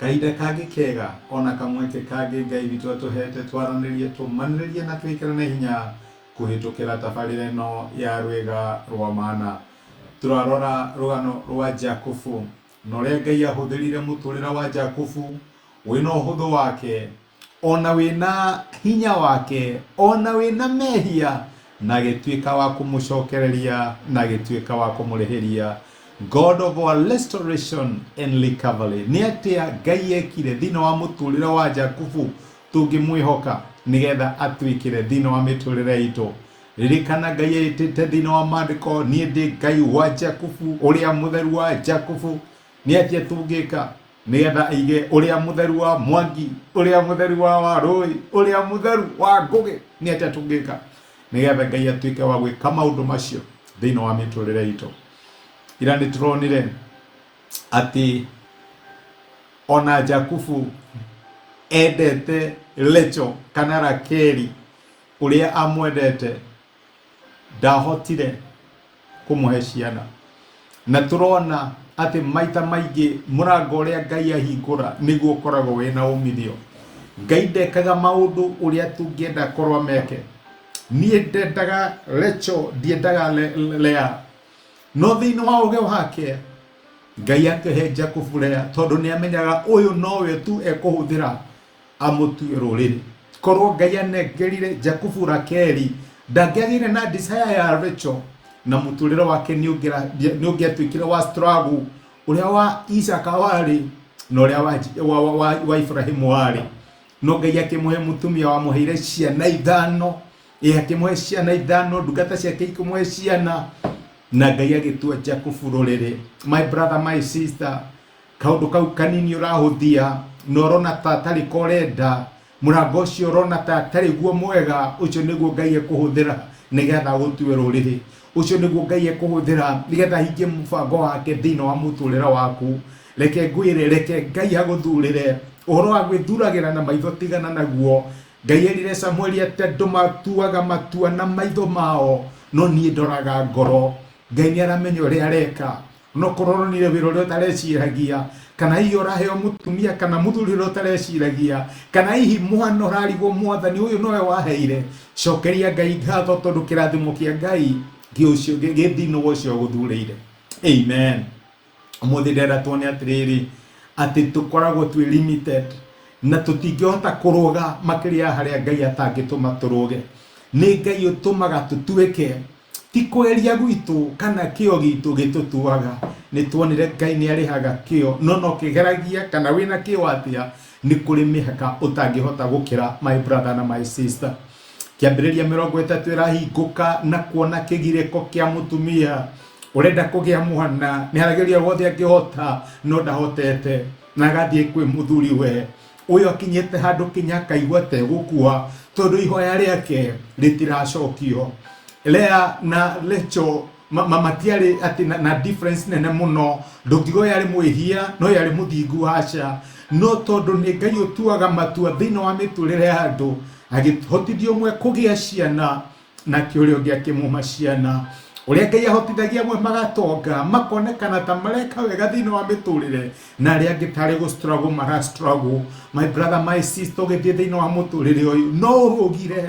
Kahinda kangĩ kega o na kamweke kangĩ Ngai witũ atũheete twaranĩrie, tũmanĩrĩrie na twĩkĩrane hinya kũhĩtũkĩra tabarĩra ĩno ya Rwĩga rwa Mana. Tũrarora rũgano rwa Jakubu na ũrĩa Ngai ahũthĩrire mũtũrĩra wa Jakubu wĩ na ũhũthũ wake, ona wĩna hinya wake ona wĩna mehia na agĩtuĩka wa kũmũcokereria na agĩtuĩka wa kũmũrĩhĩria God of our restoration and recovery nĩ atĩa Ngai ekire thĩinĩ wa mũtũrĩre wa Jakubu tũngĩmwĩhoka nĩgetha atwĩkĩre thĩinĩ wa mĩtũrĩre itũ ririkana Ngai etĩte thĩinĩ wa mandĩko niĩ ndĩ Ngai wa Jakubu ũrĩa mũtheru wa Jakubu nĩ atĩa tũngĩka nĩgetha aige ũrĩa mũtheru wa mwangi ũrĩa mũtheru wa wa rũĩ ũrĩa mũtheru wa ngũgĩ nĩ atĩa tũngĩka nĩgetha ngai atuĩke wa gwĩka maũndũ macio thĩinĩ wa mĩtũrĩre itũ ira nĩ tũronire atĩ ona jakubu endete lecho kana rakeri ũrĩa amwendete ndahotire kũmũhe ciana na tũrona atĩ maita maingĩ mũrango ũrĩa ngai ahingũra nĩguo ũkoragwo wĩna umithio ngai ndekaga maũndũ ũrĩa tũngĩenda korwo meke niĩ ndendaga recho ndiendaga Le- Le- lea no thĩinĩ wa ũgĩ wake ngai akĩhe jakubu lea tondũ nĩ amenyaga ũyũ nowe tu ekũhũthĩra amũtue rũrĩrĩ korwo ngai anengerire jakubu rakeri ndangĩagĩire na desire ya rachel na mũtũrĩre wake nĩũngĩatuĩkire wa struggle ũrĩa wa isaka warĩ na ũrĩa wa, wa, wa, wa, wa ibrahimu warĩ no ngai akĩmũhe mũtumia wamũheire ciana ithano ĩ akĩmũhe ciana ithano ndungata ciake ikĩmũhe ciana na ngai agĩtua jakubu rũrĩrĩ my brother my sister kaũndũ kau kanini ũrahũthia na ũrona ta atarĩ ko ũrenda, mũrango ũcio ũrona ta atarĩ guo mwega, ũcio nĩguo Ngai ekũhũthĩra nĩgetha agũtue rũrĩrĩ. Ũcio nĩguo Ngai ekũhũthĩra nĩgetha ahingie mũbango wake thĩinĩ wa mũtũrĩre waku. Reke ngwĩre, reke Ngai agũthurĩre. Ũhoro wa gwĩthuragĩra na maitho tigana naguo. Ngai erire Samueli atĩ andũ matuaga matua na maitho mao, no niĩ ndoraga ngoro. Ngai nĩ aramenya ũrĩa areka. no kũronire wĩra ũrĩa ũtareciragia kana hihi ũraheo mũtumia kana mũthuri ũrĩa ũtareciragia kana hihi mwana ũrarigwo mwathani ũyũ nowe waheire cokeria ngai ngatho tondũ kĩrathimo kĩa ngai gĩũcio- gĩ- gĩ thĩinĩ wa ũcio ũgũthurĩire amen ũmũthĩ ndĩrenda tuone atĩrĩrĩ atĩ tũkoragwo twĩ limited na tũtingĩhota kũrũga makĩria ya harĩa ngai atangĩtũma tũrũge nĩ ngai ũtũmaga tũtuĩke Ti kwĩrĩa gwitũ kana kĩo gitũ gĩtũtuaga nĩ tuonire Ngai nĩ arĩhaga kĩo, no no kĩgeragia kana wĩna kĩo atĩa nĩ kũrĩ mĩhaka ũtangĩhota gũkĩra my brother na my sister. Kĩambĩrĩria mĩrongo ĩtatũ ĩrahingũka na kuona kĩgirĩko kĩa mũtumia ũrenda kũgĩa mwana, nĩ arageria guothe angĩhota no ndahotete, na agathiĩ kwĩ mũthuri we ũyũ akinyĩte handũ kinya akaigua tegũkua tondũ ihoya rĩake rĩtiracokio lea na lecho ma- ma- matiarĩ atĩ na, na difference nene mũno ndũngiuga ũyũ arĩ mwĩhia na ũyũ arĩ mũthingu haca no tondũ nĩ ngai ũtuaga matua thĩinĩ wa mĩtũrĩre ya andũ agĩhotithia ũmwe kũgĩa ciana nake ũrĩa ũngĩ akĩmũma ciana ũrĩa ngai ahotithagia amwe magatonga makonekana ta mareka wega thĩinĩ wa mĩtũrĩre na arĩa angĩ tarĩ gũ struggle mara struggle my brother my sister ũgĩthiĩ thĩinĩ wa mũtũrĩre ũyũ no ũrũgire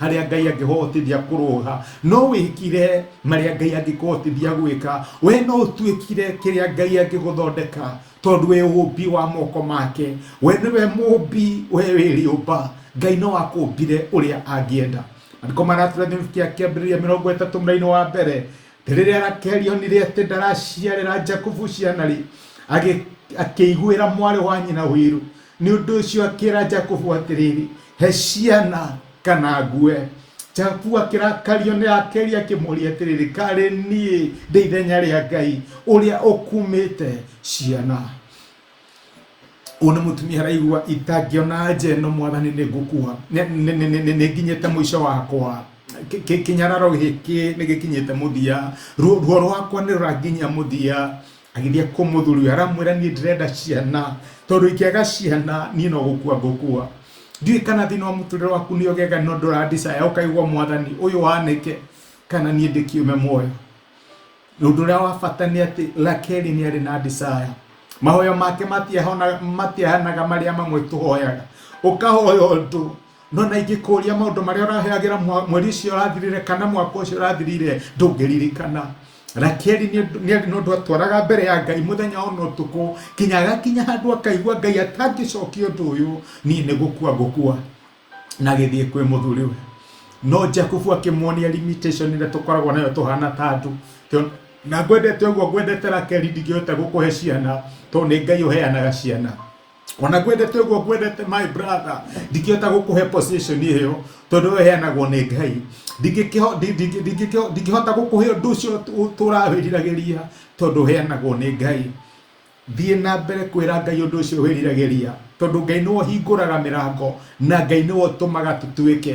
harĩa ngai angĩhotithia kũrũga no wĩkire marĩa ngai angĩkũhotithia gwĩka we no ũtuĩkire kĩrĩa ngai angĩgũthondeka tondũ wĩ ũũmbi wa moko make we nĩwe mũũmbi we wĩrĩũmba ngai no akũũmbire ũrĩa angĩenda andĩko maratũra gĩbindi kĩa kĩambĩrĩria mĩrongo ĩtatũ mũrainĩ wa mbere rĩrĩa rakeli onire atĩ ndaraciarĩra jakubu ciana rĩ agĩ- akĩiguĩra mwarĩ wa nyina ũiru Nĩ ũndũ ũcio akĩra Jakubu atĩrĩrĩ, he ciana kana ngue. Jakubu akĩrakario nĩ Rakeli akĩmũria atĩrĩrĩ, karĩ niĩ ndĩ ithenya rĩa Ngai ũrĩa ũkumĩte ciana? Ũyũ nĩ mũtumia araigua itangĩona nja ĩno mwathani nĩ ngũkua, nĩ- nĩ- nĩ- nĩ- nĩ- nĩ nginyĩte mũico wakwa Kĩ- kĩ- kĩnyararo gĩkĩ nĩ gĩkinyĩte mũthia ruo ruo rwakwa nĩ rũranginyia mũthia agĩthiĩ kwĩ mũthuri ũyũ aramwĩra niĩ ndĩrenda ciana tondũ ingĩaga ciana niĩ no gũkua ngũkua ndiũĩ kana thĩna wa mũtũrĩre waku nĩ ũgega no ndũrandicaya ũkaigua mwathani ũyũ wanĩke kana niĩ ndĩkiume muoyo ũndũ ũrĩa wa bata nĩ atĩ rakeli nĩ arĩ na ndicaya mahoya make matiahona- matiahanaga marĩa mamwe tũhoyaga ũkahoya ũndũ No na ingĩkũũria maũndũ marĩa ũraheagĩra mwa- mweri ũcio ũrathirire kana mwaka ũcio ũrathirire ndũngĩririkana rakeli nĩ ũndũ- nĩ nĩ ũndũ atwaraga mbere ya ngai mũthenya ona ũtukũ kinya agakinya handũ akaigua ngai atangĩcokia ũndũ ũyũ niĩ nĩ gũkua ngũkua na gĩthiĩ kwĩ mũthuriwe no jakubu akĩmuonia limitation ĩrĩa tũkoragwo nayo tũhana ta andũ Tũ- na ngwendete ũguo ngwendete rakeli ndingĩhota gũkũhe ciana tondũ nĩ ngai ũheanaga ciana ona kwendete ũguo kwendete my brother ndingĩhota gũkũhe position ĩyo tondũ we heanagwo nĩ ngai Ndingĩkĩho- ndi- ndi- ndingĩkĩho- ndingĩhota gũkũhe ũndũ ũcio tũ- tũrawĩriragĩria tondũ heanagwo nĩ ngai thiĩ na mbere kwĩra ngai ũndũ ũcio wĩriragĩria tondũ ngai nĩwe ũhingũraga mĩrango na ngai nĩwe ũtũmaga tũtuĩke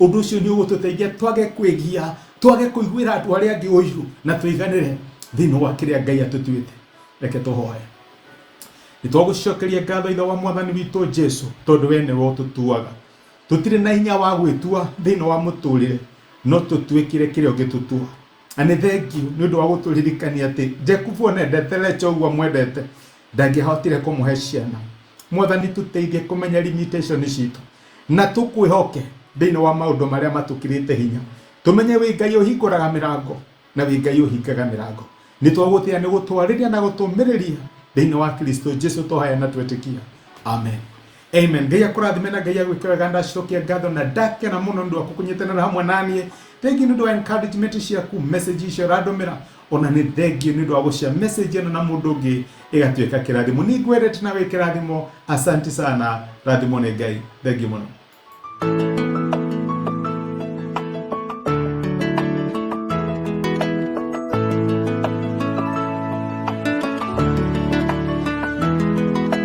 Ũndũ ũcio nĩ ũgũtũteithia twage kwĩgia, twage kũiguĩra andũ arĩa angĩ ũiru, na tũiganĩre thĩinĩ wa kĩrĩa Ngai atũtuĩte. Reke tũhoe. Nĩ twagũcokeria ngatho Ithe wa Mwathani witũ Jesu, tondũ we nĩwe ũtũtuaga. Tũtirĩ na hinya wa gwĩtua thĩinĩ wa mũtũrĩre, no tũtuĩkĩre kĩrĩa ũngĩtũtua. Na nĩ thengiũ nĩ ũndũ wa gũtũririkania atĩ Jakubu onendete Lecha ũguo amwendete, Ndangĩahotire kũmũhe ciana. Mwathani tũteithie kũmenya limitation citũ na tũkwĩhoke thĩinĩ wa maũndũ marĩa matũkirĩte hinya. Tũmenye wĩ Ngai ũhingũraga mĩrango na wĩ Ngai ũhingaga mĩrango. Nĩ twagũtĩa nĩ gũtwarĩria na gũtũmĩrĩria thĩinĩ wa Kristo Jesu tũhaya na twetĩkia. Amen. Amen. Ngai akũrathime na Ngai agwĩke wega ndacokia ngatho na ndakena mũno nĩ ũndũ wa kũkũnyitanĩra hamwe naniĩ. Thengiũ nĩ ũndũ wa encouragement ciaku, message icio ũrandũmĩra ona nĩ thengiũ nĩ ũndũ wa gũcia message ĩno na mũndũ ũngĩ ĩgatuĩka kĩrathimo. Nĩ ngwendete na wĩ kĩrathimo. Asanti sana. Rathimo nĩ Ngai. Thengiũ mũno.